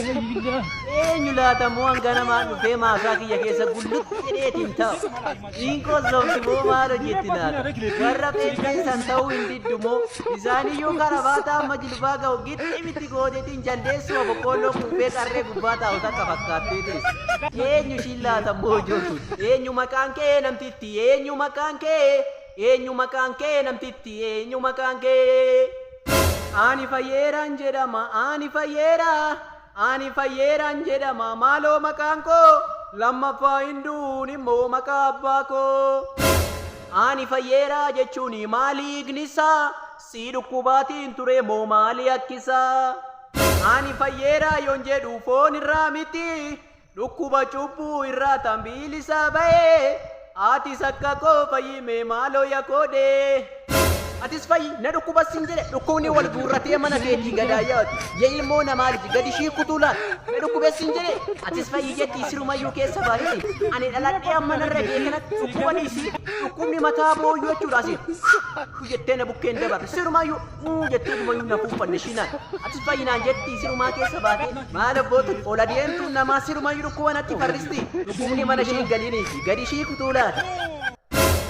Eenyu laata moo hanga namaan dhufee maasaa kiyya keessa gullutti jedheetiin ta'a. Dhiinkoo sobdi moo maal hojjetti naata? Warra qeeqeessan ta'uu hin diddu moo isaaniyyuu karabaataa amma jilbaa ga'u gixxi miti goodeetiin jaldeessuma boqqoolloo quuffee qarree gubbaa taa'u takka fakkaattee teessi. Eenyu ishiin laata moo ijooltu? Eenyu maqaan kee namtitti? Eenyu maqaan kee? Eenyu maqaan kee namtitti eenyu maqaan kee. Ani fayyeeraan jedhama ani fayyeera ani fayyeeraan jedhama maaloo maqaan koo lammaffaa hin du'uun immoo maqaa abbaa koo. Ani fayyeeraa jechuun maali hiiknisaa sii dhukkubaatiin turee moo maali akkisaa. Ani fayyeeraa yoon jedhu foon irraa miti Dhukkuba cubbuu irraa tan biilisaa ba'ee Atis akka koo fayyi mee maaloo ya koodee. Atis fayyi na dhukkubas sin jedhe dhukkubni wal guurratee mana keetii gadaa yaadu ya ilmoo namaa liji gadi ishii kutuu laal na dhukkubes sin jedhe atis fayyi jettii sirumayyuu keessa baahisi ani dhaladhee amma narra ga'e kanatti dhukkuba dhiisii dhukkubni mataa booyyuu jechuudha asiin jettee na bukkeen dabarre sirumayyuu Uu jettee dumayuu na kuuffanne shinaan. Atis bayyinaan jetti sirumaa keessa baate. Maal abbootun ol adeemtuun namaa sirumayyuu dhukkuba natti farristi. Dhukkubni mana ishii hin galiinii fi gadi ishii kutuu laata?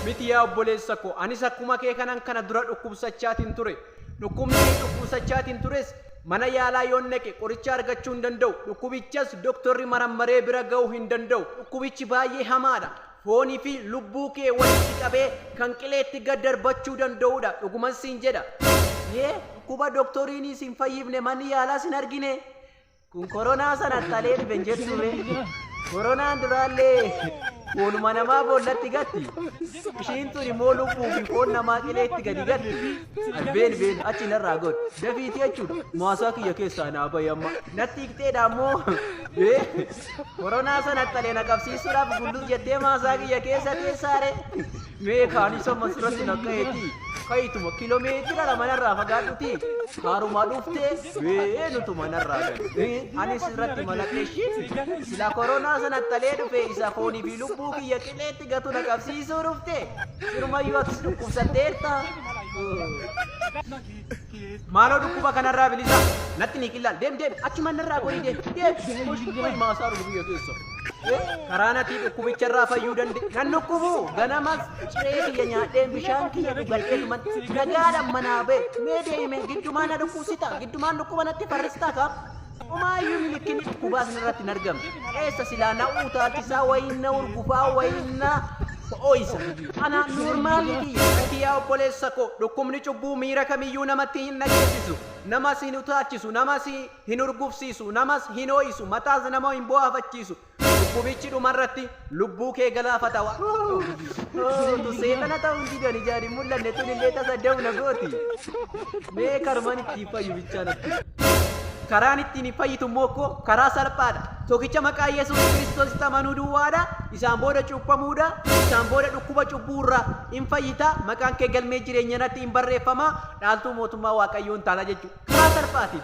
Miti yaa obboleessa koo anis akkuma kee kanan kana dura dhukkubsachaatiin ture. Dhukkubni ani dhukkubsachaatiin tures mana yaalaa yoon dhaqe qoricha argachuu hin danda'u. Dhukkubichas doktorri marammaree bira ga'uu hin danda'u. Dhukkubichi baay'ee hamaadha. foonii fi lubbuu kee walitti qabee kan qileetti gad darbachuu danda'uu dha. Dhuguman siin jedha. Yee, dhukkuba doktoriini sin fayyifne manni yaalaas hin argine. Kun koronaa san attalee dhufe hin jettuu ree? Koronaan duraallee foonuma namaa boollatti gatti. Ishiin tun immoo lubbuu fi foon namaa qileetti gadi gatti. Ay, Been been achi narraa god. Dafiiti jechuudha. Maasaa kiyya keessaa naa bahi amma. Natti hiqxeedha ammoo. Ee, Koronaa san haxxalee na qabsiisuudhaaf gulluu jettee maasaa kiyya keessa teessaare. Mee kaanis amma sirratti na ka'eeti. Ka'ituma kilomeetira lama narraa fagaadhuti. Kaaruma dhuftee bee nutu manarraa galu. Anis irratti malaqe shit. Sila koronaa san haxxalee dhufe isa foonii fi lubbuu kiyya qileetti gatu na qabsiisuu dhufte. Sirumayyuu atis dhukkubsatteerta. Maaloo dhukkuba kanarraa bilisaa. Natti ni qillal. Deem deem. Achumaan narraa gorii deem. Deem. Hoshkubbay maasaa dhufu biyya keessa. Karaa natii dhukkubicharraa fayyuu danda'e. Nan dhukkubu. Ganamas ciree kiyya nyaadheen bishaan kiyya dhugadheetuman nagaadhaan manaa ba'e. Mee deeme giddumaa na dhukkubsita. Giddumaan dhukkuba natti farristaa kaa. Omaayyuu milikkini dhukkubaa sanarratti hin argamne. Eessa silaa na utaalchisaa wayiin na urgufaa wayiin na ho'isa. Anaan noormaalii kiyya. Ati yaa obboleessa koo dhukkubni cubbuu miira kamiyyuu namatti hin dhageessisu. Namas hin utaalchisu, namas hin urgufsiisu, namas hin ho'isu, mataas nama hin boohafachiisu. Dhukkubichi dhuma irratti lubbuu kee galaafata waan ta'uuf utuu seexana ta'uu hin didan ijaan hin mul'anne tun illee tasa da'u na gooti. Mee karmaan ittiin fayyu bichaa natti. Karaan ittiin hin fayyitu immoo koo karaa salphaadha. Tokkicha maqaa Yesuus Kiristoositti amanuu duwwaadha. Isaan booda cuuphamuudha. Isaan booda dhukkuba cubbuu irraa hin fayyita. Maqaan kee galmee jireenya irratti hin barreeffama. Dhaaltuu mootummaa Waaqayyoo hin taana jechuudha. Karaa salphaatiin.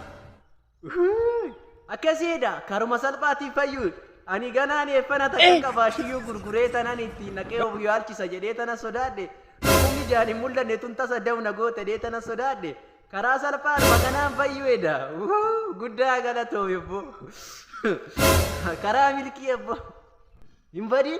Uuuy akkasiidha karuma salphaatiin fayyuun ani ganaan eeffana takka qabaa shiyyuu gurguree tanan ittiin naqee of yaalchisa jedhee tana sodaadhe dhukkubni jaan hin mul'anne tun tasa dawna goote dee tana sodaadhe karaa salphaan makanaan fayyuedha guddaa galatoomi obbo karaa milkii obbo hin badin